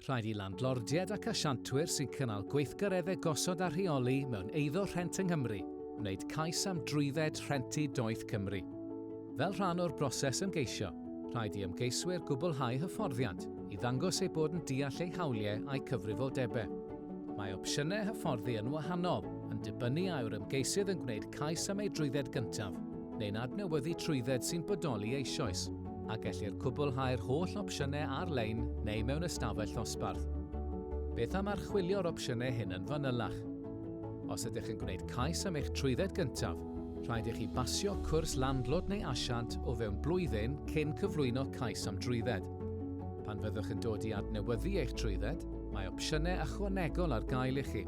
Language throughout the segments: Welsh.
Rhaid i landlordiaid ac asiantwyr sy'n cynnal gweithgareddau gosod a rheoli mewn eiddo rhent yng Nghymru wneud cais am drwydded rhentu doeth Cymru. Fel rhan o'r broses ymgeisio, rhaid i ymgeiswyr gwblhau hyfforddiant i ddangos eu bod yn deall eu hawliau a'u cyfrifoldebau. Mae opsiynau hyfforddi yn wahanol, yn dibynnu a yw'r ymgeisydd yn gwneud cais am ei drwydded gyntaf, neu'n adnewyddu trwydded sy'n bodoli eisoes. a gellir cwblhau'r holl opsiynau ar-lein neu mewn ystafell ddosbarth. Beth am archwilio'r opsiynau hyn yn fanylach? Os ydych yn gwneud cais am eich trwydded gyntaf, rhaid i chi basio cwrs landlord neu asiant o fewn blwyddyn cyn cyflwyno cais am drwydded. Pan fyddwch yn dod i adnewyddu eich trwydded, mae opsiynau ychwanegol ar gael i chi.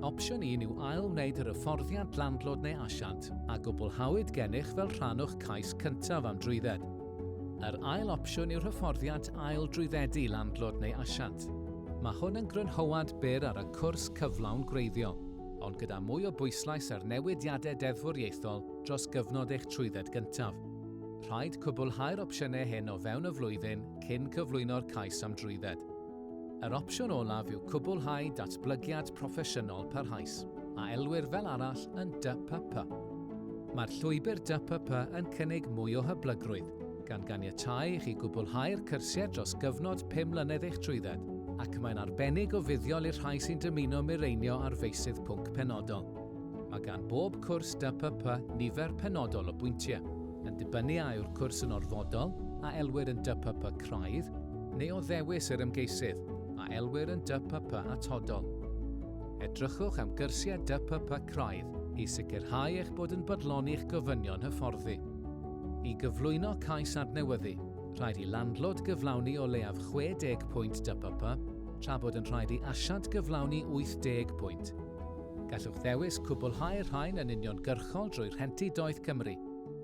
Opsiwn 1 yw ail-wneud yr hyfforddiant landlord neu asiant a gwblhawyd gennych fel rhan o'ch cais cyntaf am drwydded. Yr ail opsiwn yw'r hyfforddiant ail-drwyddedu landlord neu asiant. Mae hwn yn grynhoad byr ar y cwrs cyflawn gwreiddiol, ond gyda mwy o bwyslais ar newidiadau deddfwriaethol dros gyfnod eich trwydded gyntaf. Rhaid cwblhau'r opsiynau hyn o fewn y flwyddyn cyn cyflwyno'r cais am drwydded. Yr opsiwn olaf yw cwblhau datblygiad proffesiynol parhaus, a elwir fel arall yn DPP. Mae'r llwybr DPP yn cynnig mwy o hyblygrwydd, gan ganiatáu i chi gwblhau'r cyrsiau dros gyfnod pum mlynedd eich trwydded, ac mae'n arbennig o fuddiol i'r rhai sy'n dymuno mireinio ar feysydd pwnc penodol. Mae gan bob cwrs DPP nifer penodol o bwyntiau, yn dibynnu a yw'r cwrs yn orfodol, a elwir yn DPP craidd, neu o ddewis yr ymgeisydd a elwir yn DPP atodol. Edrychwch am gyrsiau DPP craidd i sicrhau eich bod yn bodloni'ch gofynion hyfforddi. I gyflwyno cais adnewyddu, rhaid i landlord gyflawni o leiaf 60 pwynt DPP, tra bod yn rhaid i asiant gyflawni 80 pwynt. Gallwch ddewis cwblhau'r rhain yn uniongyrchol drwy Rhentu Doeth Cymru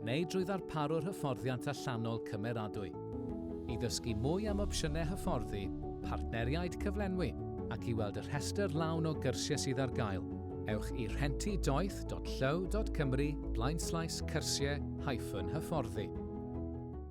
neu drwy ddarparwr hyfforddiant allanol cymeradwy. I ddysgu mwy am opsiynau hyfforddi, partneriaid cyflenwi ac i weld y rhestr lawn o gyrsiau sydd ar gael, ewch i rhentidoeth.llyw.cymru blaenslaes cyrsiau hyfforddi.